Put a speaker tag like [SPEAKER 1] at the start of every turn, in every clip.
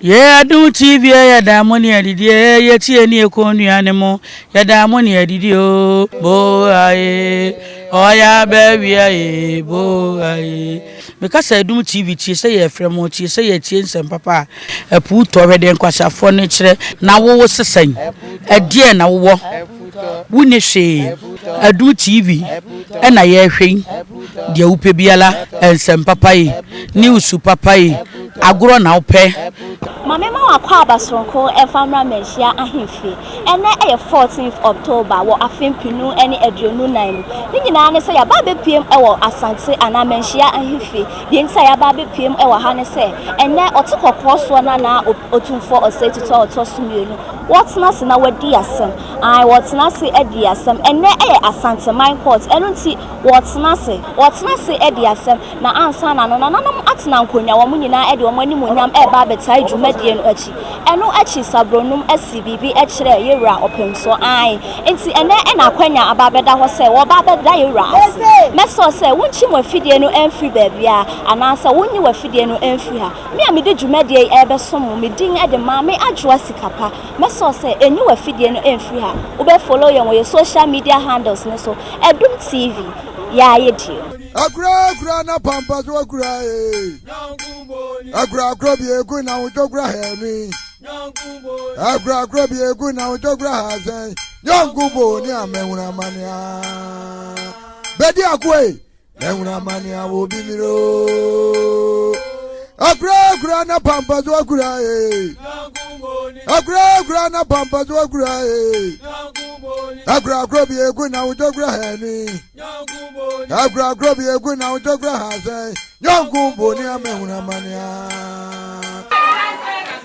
[SPEAKER 1] Yɛn adom tv ɛ yɛda mo ne adidi ɛ yɛtie ne ɛkɔ nnua ne mo yɛda mo ne adidi o bo aye ɔya bɛwia ye bo aye meka sɛ adom tv tie sɛ yɛfrɛ mo tie sɛ yɛtie nsɛm papa a ɛpo tɔ hwɛ deɛ nkwaseafoɔ no kyerɛ na wowo sesan ɛdeɛ na wowɔ wonni hwee aduru TV na yɛrehwɛ yi deɛ wopɛ biara nsɛm papa yi news papa yi agorɔ na wopɛ. Ma me ma
[SPEAKER 2] w'akwaaba soronko mfa mmra Manhyia Ahemfie. Ɛnnɛ yɛ 14th October wɔ afe mpenu ne aduonu nan mu. Ne nyinaa ne sɛ yɛaba abɛpuem wɔ Asante anaa Manhyia Ahemfie. Deɛ nti a yɛaba abɛpuem wɔ ha ne sɛ, ɛnnɛ ɔte kɔkɔɔ soɔ no anaa Otumfoɔ Osei Tutu a ɔtɔ so mmienu, Wɔtena ase na wɔadi asɛm. Ae, wɔtena ase adi asɛm. Ɛnnɛ ɛyɛ Asanteman Court, ɛno nti wɔtena ase. Wɔtena ase adi asɛm, na ansa na no, nananom atena nkonnwa, wɔn nyinaa de wɔn animuonyam reba abɛtae dwumadie no akyi. Ɛno akyi Sabronum asi biribi kyerɛ yɛn wura Ɔpemsoɔ. Ae, enti ɛnnɛ na akwanya aba abɛda hɔ sɛ wɔba abɛda yɛn wura ase. Mɛsrɛ sɛ wonkyi mo afidie no mfiri baabiara, anaasɛ wonyi w'afidie no mfiri ha. Me a mede dwumadie yi rebɛsom wo, me din de Maame Adwoa Sika Pa. Mɛsɔɔ sɛ ɛnyi w'afidie no mfiri ha. Wobɛ follow yɛn wɔ yɛn social media handles no so, Adum TV, Yaa yɛ die. Akura akura
[SPEAKER 3] na pampa so akura ee. Akura akura bi egu na wotɔ kura hɛmi. Akura akura bi egu na wotɔ kura ha sɛn. Nyɔnku bo ni amɛnwura mania. Bɛdi akoe Mɛhunu amane a obi mmiri o. Akurakura na pampa so akura ee. Akurakura na pampa so akura ee. Akurakura bi egu na wotɔ kura hɛni. Akurakura bi egu na wotɔ kura hasɛn. Nyɔnko boni a mɛhunu amane a.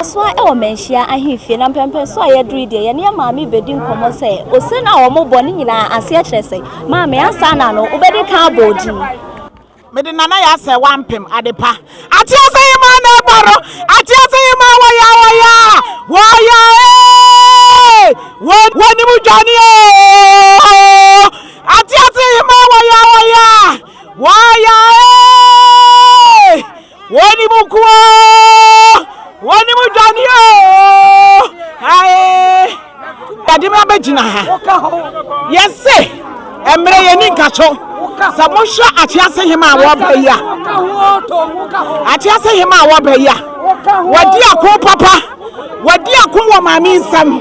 [SPEAKER 2] Asoa wɔ Manhyia ahemfie na mpɛnpɛn so a yɛdurui deɛ yɛne yɛn maame rebɛdi nkɔmmɔ sɛ ose no a wɔbɔ no nyinaa aseɛ kyerɛ sɛ, Maame, ansaana no wobɛdi kan abɔ odin. Mede
[SPEAKER 4] Nana yɛ asɛ wampem ade pa. Atease yi maa na ɛbɔ no. Atease yi maa wɔyaa wɔyaa wɔyaa ee wo wɔnim dwane oo. Atease yi maa wɔyaa wɔyaa wɔyaa ee. Wɔn mu nko ara, wɔn mu dwane oo, ae, yɛde mo abɛgyina ha. Yɛse, mmerɛ yɛni nka so, sɛ mohwɛ atease hema a wɔba yi a, atease hema a wɔba yi a, wɔdi ako papa, wɔdi ako wɔ maame nsam,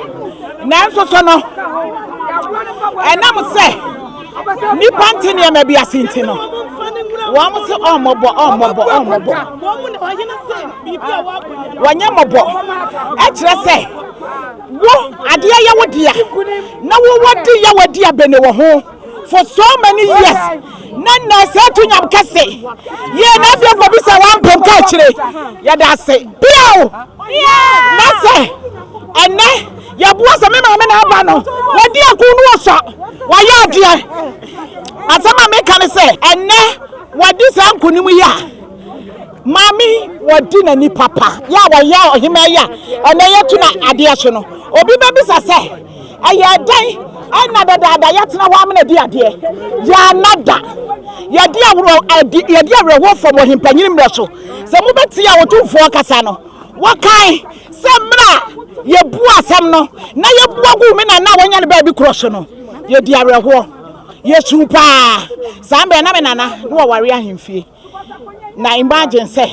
[SPEAKER 4] nanso so no, ɛnam sɛ, Nnipa nte nneɛma bi ase nti no, wɔn se ɔmmɔbɔ ɔmmɔbɔ ɔmmɔbɔ. Wɔnyɛ mmɔbɔ. Ɛkyerɛ sɛ wo adeɛ yɛ wo dea na wowɔ di yɛ wɔ di abɛne wɔ ho for so many years na na sɛ to nyam kɛse yɛ na afei kɔ bi sɛ wampem ka akyire yɛda ase biao na sɛ ɛnɛ Yɛboa sɛ me maame na aba no wadi akuw no wɔ sua, wayɛ adeɛ. Asɛm a meka ne sɛ ɛnnɛ wadi saa nkonim yi a maame yi wadi n'ani papa yɛ a wayɛ ɔhemaa yi a ɛnnɛ yɛto no adeɛ so no. Obi bɛbisa sɛ ɛyɛ dɛn ɛna dadaada yɛatena hɔ amena di adeɛ? Yɛanna da. Yɛde awerɛhoɔ fam ɔhempanyini mmerɛ so. Sɛ mobɛtie a Otumfoɔ kasa no, Wɔkae sɛ mmerɛ a yɛbuu asɛm no na yɛbua guu me nana a wɔanya no baabi korɔ so no, yɛdii awerɛhoɔ. Yɛsuu pa ara. Saa mmerɛ na me nana na wɔware ahemfie. Na imagine sɛ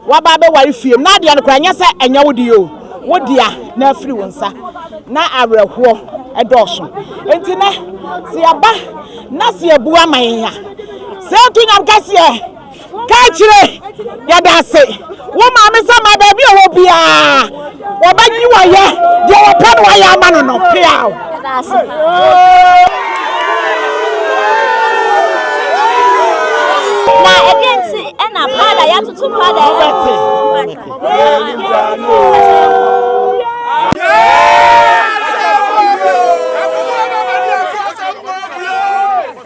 [SPEAKER 4] woaba abɛware fie mu na adeɛ no koraa nyɛ sɛ ɛnyɛ wo deɛ o, wo dea na afiri wo nsa. Na awerɛhoɔ dɔɔso. Enti nɛ sɛ yɛba na sɛ yɛbu ama yɛn a, sɛ yɛto nyam kɛseɛ. Ka kyerɛ, Yɛda ase, wo maame sɛ ma baabi a ɔwɔ biara wɔbɛgye wayɛ deɛ wɔpɛ no wayɛ ama no no peaw. Na ɛdeɛ nti ɛna
[SPEAKER 2] Prada yɛatoto Prada ɛwɔ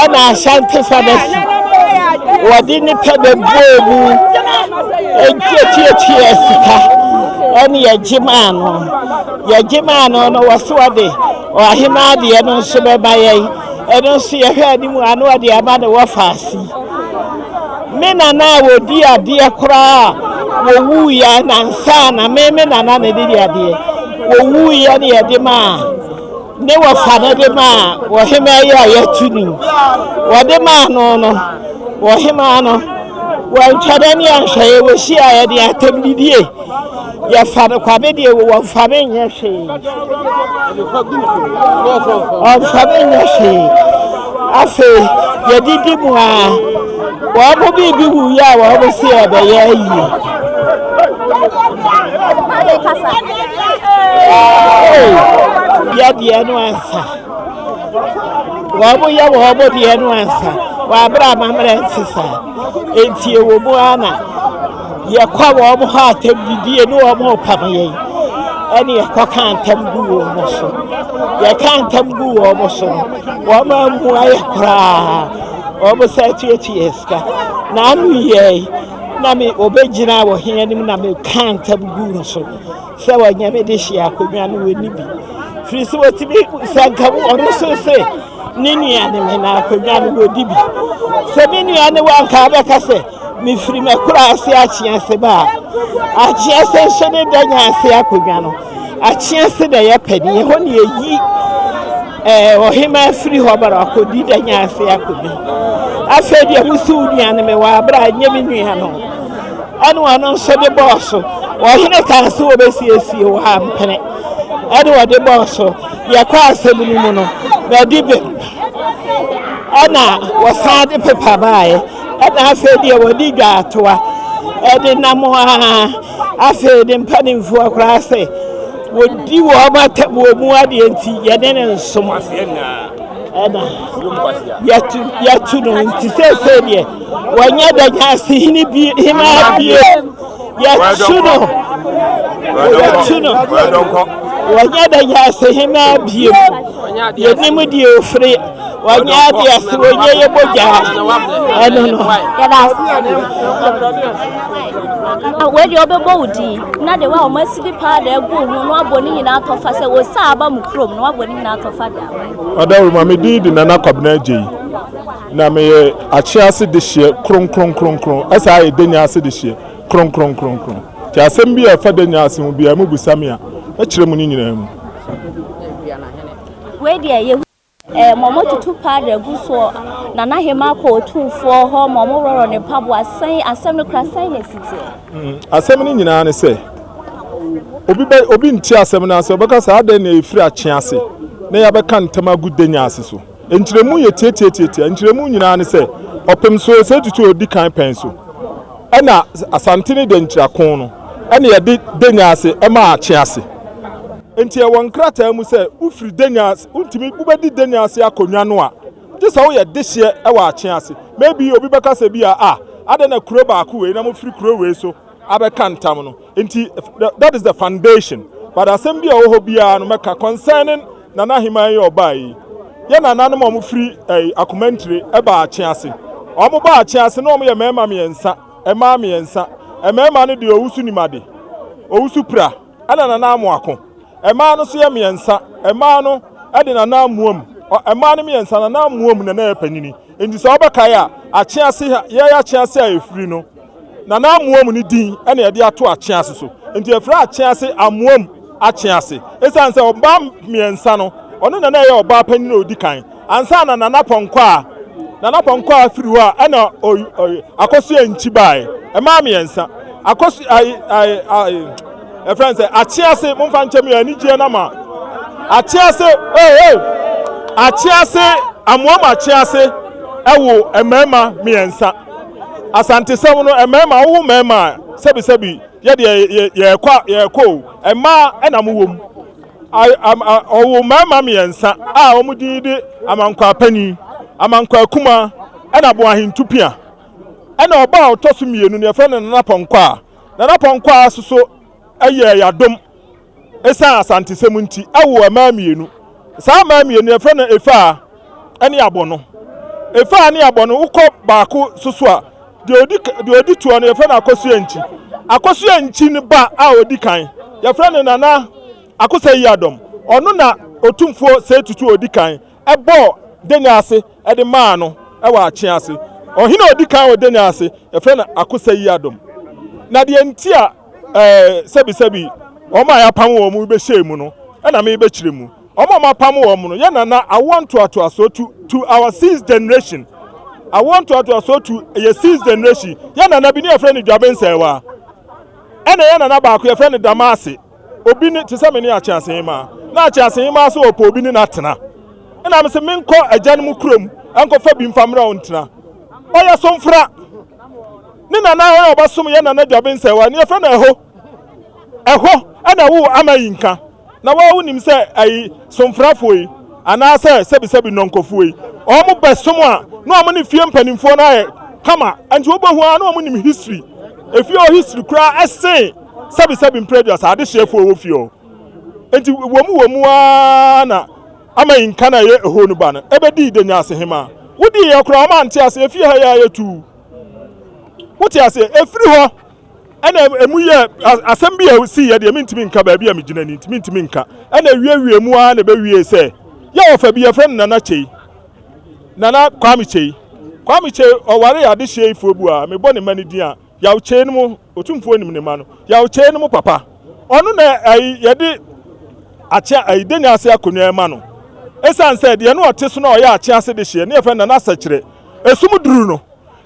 [SPEAKER 4] Ɛna Asante Fabasi wɔde nnipa bɛbɔɔ mu ntiatiatia sika ɛne yɛgye maa no yɛgye maa no no wɔ so ɔde ɔhema adeɛ no nso bɛma yɛn ɛno nso yɛhwɛ anim ano ɔde ama ne wɔ faase me nana a wɔdi adeɛ koraa wɔwuiɛ nansa na me me nana na ɛde di adeɛ wɔwuiɛ ne yɛde maa Ne wɔfa no de maa ɔhemaa yi a yɛato din. Wɔde maa no no, ɔhemaa no, wantwa da ne anhwɛeɛ, wɔhyiaeɛ de atɛm didie. Yɛfa no kwa me deɛ wɔmfa me nyɛ hwee. Wɔmfa me nyɛ hwee. Afei yɛdidi mu a wɔn mo biribi wuiɛ a wɔn mo se ɛbɛyɛ ayie. yɛ deɛ no ansa wɔn mo yɛ wɔn mo deɛ no ansa wɔn abere amammerɛ nte saa nti ɛwɔ mu ara na yɛkɔ wɔn mo hɔ atɛm didie ne wɔn mo pam yɛn ɛne yɛkɔ ka ntam gu wɔn mo so yɛka ntam gu wɔn mo so no wɔn mo amu ayɛ koraa wɔn mo sɛ tuatua sika na ano yɛ yi. Na me, wɔbɛgyinaa wɔ he anim na mekaa ntam guu no so sɛ wɔnyɛ me de hyee akonnwa no wɔnni bi firi so wɔtumi sɛ nka wo ɔno nso se ne nua ne me na akonnwa no wɔdi bi sɛ me nua ne wanka bɛka sɛ mefiri makura ase akyeɛ se ba a akyeɛ se nso ne da nya ase akonnwa no Akyea se na ɛyɛ pɛ deɛ, ɛhɔ na yɛyi ɛɛ eh, ɔhemaa firi hɔ bara akɔdi da nya ase akɔdi. Afei deɛ wosi wo nua no me wɔ abera a ɛnyɛ me nua no. Ɛne ɔno nso de bɔɔ so. Ɔhene kaa se wɔbɛsiesie wɔ ha mpene. Ɛne ɔde bɔɔ so. Yɛkɔ asɛm no mu no, bɛde bem. Ɛna wɔsan de pepa baeɛ. Ɛna afei deɛ wɔde dwa atoa. Ɛde nam a Afei ne mpanimfoɔ koraa sɛ wɔdi wɔn atabuo mu adeɛ nti yɛne ne nsom ɛna yɛtu yɛtu no nti seesei deɛ wɔnyɛ da nyaase hene bi hemaa bie yɛtu no yɛtu no wɔnyɛ da nyaase hemaa bie yɛnim deɛ ofiri wɔnyɛ adeɛ ase wɔnyɛ yɛ mogya ɛno no yɛda
[SPEAKER 2] ase wei deɛ wɔbɛbɔ wo din na de wa wɔn asidi paa da agu ho na wabɔ ne nyinaa atɔfa sɛ wɔ saa aba mu kurom na wabɔ ne nyinaa atɔfa da ɔdawuro ma me din
[SPEAKER 5] de nana kwabena agye yi na meyɛ akye ase de hyeɛ kronkronkronkron ɛsɛ ayɛ denya ase de hyeɛ kronkronkronkron nti asɛm bi a ɛfa denya ase ho biara mu bisa me a ɛkyerɛ mu ne nyinaa mu
[SPEAKER 2] wei deɛ yɛ Ɛɛ, ma wɔtutu powder gu soɔ, Nana Hemaa kɔ Otumfoɔ hɔ ma wɔworɔ ne mpaboa. Sɛn, asɛm no kura sɛn na ɛsi teɛ? Mm, asɛm no nyinaa ne
[SPEAKER 5] sɛ, obi bɛ, obi nti asɛm no ase, ɔbɛka sɛ adɛn na ɛfiri akyea ase na yɛabɛka ntam agu danya ase so. Nkyerɛmu yɛ tiatiatiatia, nkyerɛmu nyinaa ne sɛ, ɔpem so sɛ ɛtutu ɔdi kan pɛn so, ɛna asante ne dankyira ko no, ɛna yɛde danya ase ɛma akyea ase. Nti ɛwɔ nkrataa mu sɛ wofiri danya ase. Wontumi, wobɛdi dɛn ase akonnwa no a, gye sɛ woyɛ dehyeɛ wɔ akye ase. Maybe obi bɛka sɛ bi a, ah, adɛn na kuro baako wei na mofiri kuro wei so abɛka ntam no, nti that is the foundation. But asɛm bi a ɛwɔ hɔ biara no mɛka concerning Nana Aheman yi a ɔbaa yi, yɛ nananom a wɔfiri ɛyi, Akomantire ɛbaa akye ase. Wɔn baa akye ase na wɔn yɛ mmarima mmiɛnsa, mmaa mmiɛnsa. Mmarima no deɛ owusu nim ade, owusu pira. ɛna nana amo ako. Ɛmaa no so yɛ miɛnsa. Ɛmaa no ɛde nana amoam. Ɛmaa no miɛnsa nana amoam na na yɛ panyini. Enti sɛ ɔbɛ kae a, akyease ha, yɛ yɛ akyease a efiri no. Nana amoam ne din ɛna yɛde ato akyease so. Enti efiri akyease amoam akyease. Esan sɛ ɔbaa miɛnsa no, ɔno na na yɛ ɔbaa panyini a odi kan. Ansa na Nana Pɔnkɔ a Nana Pɔnkɔ a afiri hɔ a ɛna Akosua Nkyi baeɛ. Mmaa mmiɛnsa. Akosua ayi ayi ayi ɛfrɛ sɛ Akyease mo mfa nkyɛm yɛ anigyeɛ no ama Akyease ee hey, ee hey. Akyease Amoam Akyease ɛwo mmarima mmiɛnsa. Asantesɛm no mmarima wowo mmarima a sɛbisɛbi yɛdeɛ yɛrekɔ yɛrekɔ o mmaa ɛna mo wɔ mu. Ɔwoo mmarima mmiɛnsa a wɔn din de Amankwaa Panin, Amankwaa Kumaa, ɛna Boahen Tupia. Ɛna ɔba a ɔtɔ so mmienu no yɛfrɛ no Nana Pɔnkwaa. Nana Pɔnkwaa nso so yɛɛ yadom ɛsiane Asantesɛm nti, ɛwoo mmaa mmienu. Saa mmaa mmienu no yɛfrɛ no Efaa. ne abɔ no. Efa a ne abɔ no, wokɔ baako so so a, deɛ odi deɛ odi toɔ no yɛfrɛ no akosua nkyi. Akosua nkyi no ba a odi kan, yɛfrɛ no Nana Akosa Yiadɔm. Ɔno na Otumfoɔ Seyi Tutu a odi kan bɔɔ Denya ase de maa no wɔ Akyea ase. Ɔhene a odi kan wɔ Denya ase, yɛfrɛ no Akosa Yiadɔm. Na deɛ nti a ɛɛ sɛbisɛbi wɔn a yɛapam wɔn yi bɛhyɛɛ mu no na merebɛkyerɛ mu. Wɔn a wɔapam wɔn no yɛ nana awoɔ ntoatoasoɔ to to our sixth generation. Awoɔ ntoatoasoɔ to yɛ sixth generation. Yɛ nana bi ne yɛfrɛ no Dwabe Nsɛewa. Ɛna yɛ nana baako yɛfrɛ no Damase. Obi ne te sɛ me ne Akyeasehemaa. Na Akyeasehemaa sɛ ɔpɛ obi ne no atena. Ɛna me se menkɔ agya no mu kurom nkɔfa bi mfa mmra ɔntena. Ɔyɛ somfra. Ne nana a ɔyɛ ɔbɛsom yɛ nana Dwabe Nsɛewa ne yɛfrɛ no Ɛho. Ɛhɔ na wo ama yi nka, na wo a wonim sɛ ayi somfrafoɔ yi anaasɛ sɛbisɛbi nnɔnkɔfoɔ yi, wɔn bɛsom a, na wɔn ne fie mpanimfoɔ no ayɛ kama, ɛnti wobɛhu ara na wɔn nim history, efie hɔ history koraa ɛsen sɛbisɛbi mprɛduasa adehyeɛfoɔ ɛwɔ fie hɔ. Ɛnti wɔmu wɔmu ara na ama yi nka na ɛyɛ ɛhɔ no ba no ɛbɛdii Denyasehemaa. Wodii yɛ koraa wɔn ante aseɛ, efie ha yi ara yɛtuu. Wote aseɛ? Ɛfiri hɔ. Ɛna emu yɛ asɛm bi a esiiɛ deɛ mentumi nka baabi a megyina ni nti mentumi nka. Ɛna ɛwiewiee mu ara na ɛbɛwiee sɛ yɛ ɔfa bi yɛfrɛ no Nana Kyei, Nana Kwame Kyei. Kwame Kyei ɔwaree adehyeɛ Ifuobu a mebɔ ne mma no din a, Yaw Kyei no mo, Otumfoɔ nim ne mma no, Yaw Kyei no mo papa. Ɔno na ayi yɛde Akyea ayi Denya ase akonnwa rema no. Esiane sɛ deɛ na ɔte so na ɔyɛ Akyea ase dehyeɛ ne yɛfrɛ no Nana Sɛkyerɛ Esumduru no,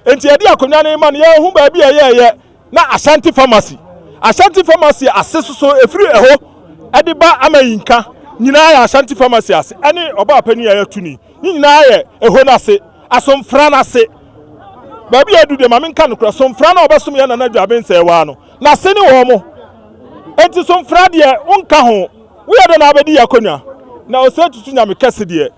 [SPEAKER 5] Enti yɛde akonnwa no ma no, yɛhu baabi a ɛyɛɛyɛ na Ashanti Pharmacy. Ashanti Pharmacy ase soso ɛfiri ɛhɔ de ba Amayinka nyinaa yɛ Ashanti Pharmacy ase ɛne ɔbaa panin a yɛatu ni. Ne nyinaa yɛ ɛhɔ no ase, Asomfra no ase. Baabi a ɛdu deɛ ma menka nokorɛ, Somfra no a ɔbɛsom yɛn Nana Dwaa Bensɛe waa no, n'ase ne wɔn. Enti Somfra deɛ wonka ho, woyɛ dɛn na wobɛdi yɛn akonnwa? Na ɔsɛ tutu Nyame kɛse deɛ.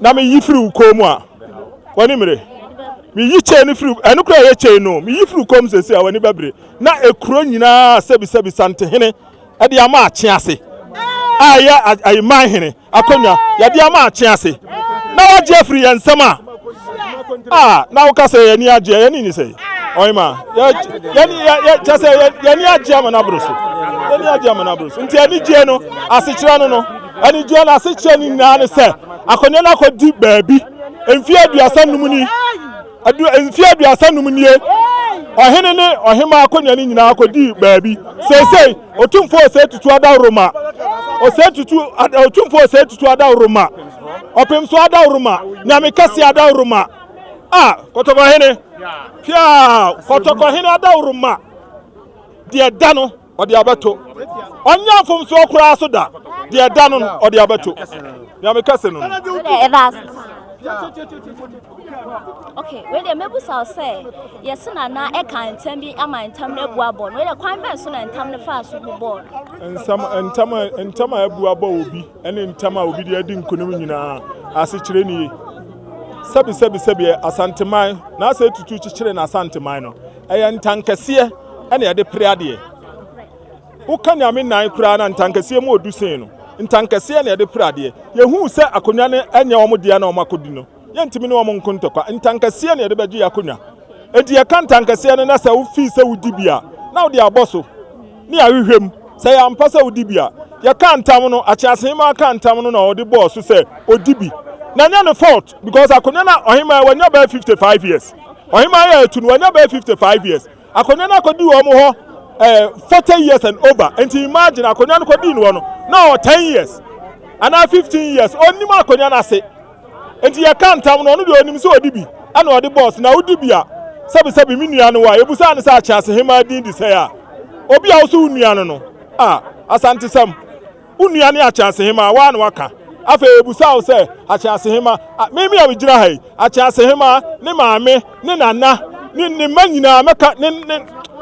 [SPEAKER 5] na meyi firi wo kɔn mu a, w'ani mmere. Meyi kyɛn no firi, ɛno kura yɛ kyɛn no, meyi firi wo kɔn mu sɛsi a, w'ani bɛbere. Na ekuro nyinaa sɛbisɛbi santehene de ama akye ase, a ɛyɛ ayiman hene akonnwa yɛde ama akye ase, na wagye afiri yɛn nsam a, a na woka sɛ yɛn ani agye, yɛn ani nye sɛ ɔhema, kyɛ sɛ yɛn ani agye ama no aboro so, yɛn ani agye ama no aboro so. Nti anigyeɛ no, asekyerɛ no no. Anigyeɛ no asekyeɛ no nyinaa ne sɛ akonnwa no akɔdi baabi. Mfeɛ aduasa nnum ni, adu, mfeɛ aduasa nnum nie, ɔhene ne ɔhemaa akonnwa no nyinaa akɔdii baabi. Seesei, Otumfoɔ Osei Tutu Adaworoma, Osei Tutu, Ad- Otumfoɔ Osei Tutu Adaworoma, Ɔpem so Adaworoma, Nyame Kɛseɛ Adaworoma, a Kɔtɔkɔhene, piaa, Kɔtɔkɔhene Adaworoma, deɛ da no, ɔde abɛto. Ɔnnya mfomsoɔ koraa so da, deɛ ɛda no no, ɔde abɛto. Deɛ meka se no no. Sɛdeɛ ɛbaa so
[SPEAKER 2] saa. Ok, wei deɛ mɛbusa wo sɛ, yɛse na na ɛka ntam bi ama ntam no abu abɔ no, wei deɛ kwan bɛn so na ntam no faa so bu bɔɔ no? Nsam,
[SPEAKER 5] ntam, ntam a abu abɔ obi ne ntam a obi de adi nkonim nyinaa asekyerɛ nie. Sɛbi, sɛbi, sɛbi, Asanteman, na asɛ tutu kyekyere na Asanteman no. Ɛyɛ ntankɛseɛ na yɛde pere adeɛ. Woka Nyame nan koraa na ntankɛseɛ mu ɔdu sen no. Ntankɛseɛ na yɛde pere adeɛ. Yɛhuu sɛ akonwa no ɛnyɛ wɔn dea na wɔn akɔdi no, yɛntumi ne wɔn nko ntɔkwa. Ntankɛseɛ na yɛde bɛgye akonwa. Enti yɛka ntankɛseɛ no na sɛ wofii sɛ wodi bi a, na wode abɔ so ne ahwehwɛ mu. Sɛ ɛyɛ ampa sɛ wodi bi a, yɛkaa ntam no, Akyeasehemaa kaa ntam no na ɔde bɔɔ so sɛ ɔdi bi. Na ɛnyɛ ne fault. because akonnwa na ɔhemaa wanya bɛyɛ fifty five years ɔhemaa yɛ etu no wanya bɛyɛ fifty five years akonnwa na akɔdi wɔn hɔ ɛɛ eh, forty years and over nti imagine akonnwa no kɔdi no hɔ no na ɔwɔ ten years anaa fifteen years ɔnim akonnwa no ase nti yɛka ntam no ɔno deɛ ɔnim sɛ ɔdi bi ɛna ɔde bɔs na wodi bi a sɛbisɛbi mi nua no wa ebusa ne sɛ akyɛ ase hemaa din di sɛ a obi a woso wo nua no no a asante sɛm. Wo nua ne Akyeasehemmaa, wo ara na woaka. Afei ɔbisaa wo sɛ, Akyeasehemmaa, me me a megyina ha yi, Akyeasehemmaa, ne maame, ne nana, ne ne mma nyinaa, mɛka, ne, ne,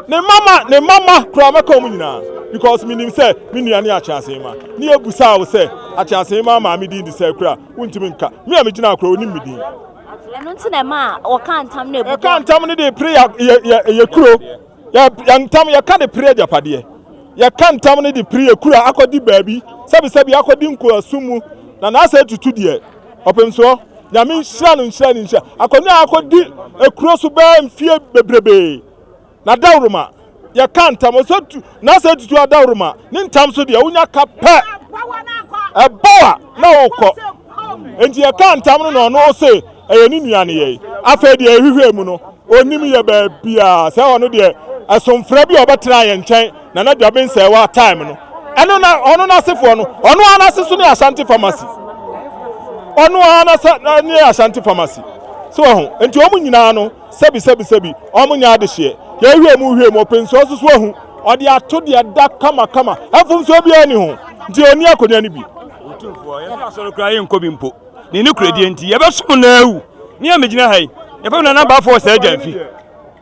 [SPEAKER 5] ne mma mma, ne mma mma koraa, mɛka wɔn nyinaa, because menim sɛ me nua ne Akyeasehemmaa. Ne yɛbisaa wo sɛ, Akyeasehemmaa maame din de sɛn koraa? Wontumi nka. Me a megyina ha koraa, ɔnim me din. Ɛno nti
[SPEAKER 2] na ɛmaa wɔkaa ntam no a ɛbu bem. Ɛkaa ntam no de pere
[SPEAKER 5] yɛ, yɛ, yɛ, yɛ kuro. Yɛ, yɛ ntam, yɛka de pere agyapadeɛ. Yɛka ntam no de pere akura akɔdi baabi, sɛbisɛbi akɔdi nkoasom mu, na n'asɛ atutu deɛ. Ɔpem soɔ. Nyame nhyira no nhyira ne nhyira. Akonnwa a akɔdi akuro so bɛɛ mfie bebrebee. N'adaworoma, yɛka ntam, ɔsɛ tu, n'asɛ atutu adaworoma. Ne ntam so deɛ, wonya ka pɛ. Ɛbɔ a, na wokɔ. Enti yɛka ntam no na ɔno ɔsɛ. ɛyɛ ne nua nneyɛe. Afei deɛ yɛhwehwɛɛ mu no, ɔnnim yɛ baabiara. Sɛ ɔno deɛ, ɛsomfrɛ bi a ɔbɛtenaa yɛn nkyɛn, Nana Dwaben-Sɛɛwaa time no, ɛno na ɔno n'asefoɔ no, ɔno ara n'ase nso ne Ashanti Pharmacy. Ɔno ara n'ase ne Ashanti Pharmacy. So wɔ ho, nti wɔn nyinaa no, sɛbi sɛbi sɛbi, wɔn nyɛ adehyeɛ. Yɛhwehwɛɛ mu hwehwɛɛ mu, ɔpɛnsuo nso so ahu. Ɔde ato deɛ da kama kama, mfomsoɔ biara nni ho, nti ɔnni akonnwa no bi. Otumfoɔ, yɛnso
[SPEAKER 6] asɔre koraa yɛnkɔ bi mpo. ne nokorɛdie nti, yɛbɛsom no awu. Me a megyina ha yi, yɛfrɛ me Nana Abaafoɔ Sir Gyamfi.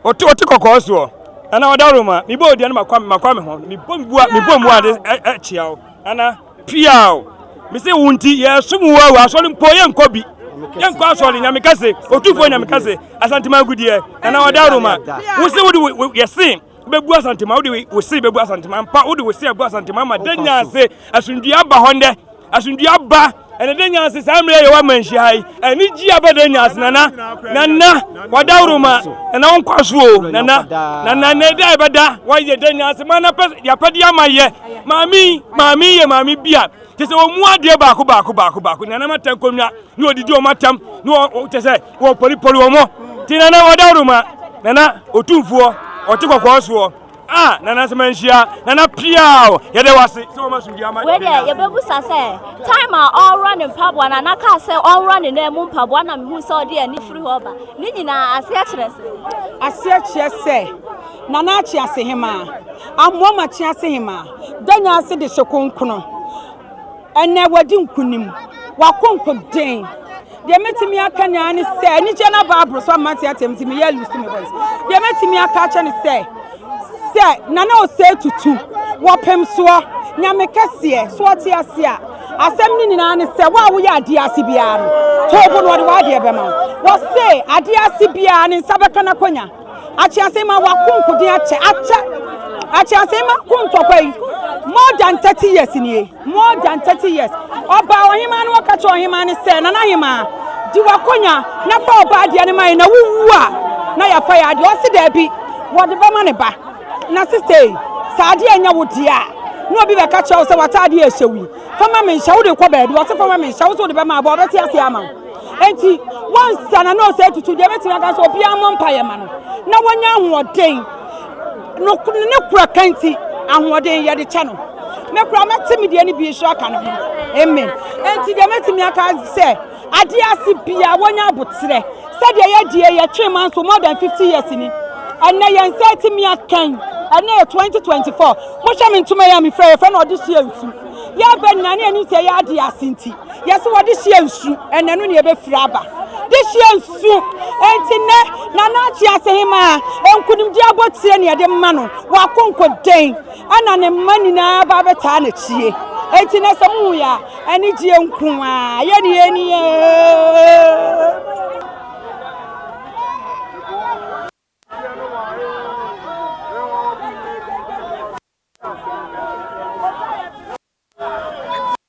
[SPEAKER 6] Ɔte ɔte kɔkɔɔ soɔ, ɛna ɔda woro ma. Mebɔ odua no makwa makwa me ho. Mebɔ mbua mebɔ mbua de ɛkyea wo. Nana pia o. Mese wo nti yɛsom wo awu asɔre mpo yɛnkɔ bi. Yɛnkɔ asɔre nyame kɛse, otumfoɔ nyame kɛse, asantema agudeɛ, nana ɔda woro ma. Wo se wode yɛse bɛbu asantema wode wo se bɛbu asantema mpa wode wo se abu asantema ma da nyinaa se asomdua aba hɔ ndɛ asomdua aba ɛne de nyanse saa mmerɛ yɛwɔ amanhyia ha yi ɛne gyi abɛ de nyanse nana nana wada woroma nana wo nkwa so o nana nana na ɛda ɛbɛda wɔyɛ de nyanse ma napɛ yɛapɛde ama yɛ maame maame yɛ maame bi a kyɛ sɛ wɔmu adeɛ baako baako baako baako nana ma tɛn kɔnwa ne wɔdidi wɔn atam ne wɔ kyɛ sɛ wɔpɔlipɔli wɔn nti nana wada woroma nana ɔtumfoɔ ɔte kɔkɔɔ soɔ Ah nana sɛ manhyia nana piaa o yɛdɛ wase sɛ wɔma sumdua ma wei deɛ yɛbɛbusa sɛ
[SPEAKER 2] time a ɔworɔ ne mpaboa na nana kaa sɛ ɔworɔ ne nan mu mpaboa na mehu sɛ ɔde ani firi hɔ ba ne nyinaa aseɛ kyerɛ sɛ aseɛ kyerɛ sɛ
[SPEAKER 4] nana akye ase hemaa amoa ma kye ase hemaa danya ase de hyɛ konkono ɛnɛ wadi nkonim wakonko den deɛ mɛtumi aka nyinaa ne sɛ anigyeɛ no aba aboro so ama nte atɛm nti meyɛ lusu me voice deɛ mɛtumi aka akyɛ ne sɛ sɛ nana ɔsɛ tutu wɔpem soɔ nyame kɛseɛ so ɔte ase a asɛm no nyinaa ne sɛ wo a woyɛ adeɛ ase biara no toobo no ɔde w'adeɛ bɛma wo wɔse adeɛ ase biara ne nsa bɛka no akɔnya Akyease ma wakonkoden akyɛ akyɛ akyease ma ko ntɔkwa yi more than thirty years nie more than thirty years ɔbaa ɔhemaa no ɔka kyerɛ ɔhemaa no sɛ nana hemaa di wakonya na fa ɔbaa adeɛ no ma yɛ na wowu a na yɛafa yɛ adeɛ ɔse daabi wɔde bɛma ne ba na sista yi sɛ adeɛ nyɛ wo deɛ a na obi bɛka kyerɛ wo sɛ w'ataadeɛ ɛhyɛ wo yi fama me nhyɛ wode kɔ baabi ɔse fama me nhyɛ wo sɛ wode bɛma abɔ ɔbɛte ase ama wo Enti, wɔnsa na nɔɔse atutu deɛ ɛbɛtumi aka sɛ obiara mmɔ mpaeɛ ma no na wɔnya ahoɔden. No, ne kora ka nti, ahoɔden yɛde kyɛ no. Me kora mɛte me deɛ no bi nso aka no ho. Amen. Enti deɛ mɛtumi aka sɛ adeɛ ase bia wɔnya aboterɛ sɛdeɛ yɛdeɛ yɛtwe ma nso more than 50 years ni. Ɛnɛ yɛn nsa atumi akɛn ɛnɛ yɛ 2024 mohwɛ me ntoma yɛ a mefira yɛfrɛ no ɔde hyeɛ nsu yɛbɛnya ne anim sɛ yɛ adeɛ ase nti Yɛse wɔde hyia nsu ɛna ɛno na yɛbɛfiri aba de hyia nsu. Enti nnɛ Nana Akyee Asehemaa nkunimdie abotire na yɛde ma no, w'akonkoden ɛna ne mma nyinaa ba abɛtaa n'akyie. Enti nnɛ sɛ mohu yɛ a, anigyeɛ nko ara yɛ ne yɛ ni ee.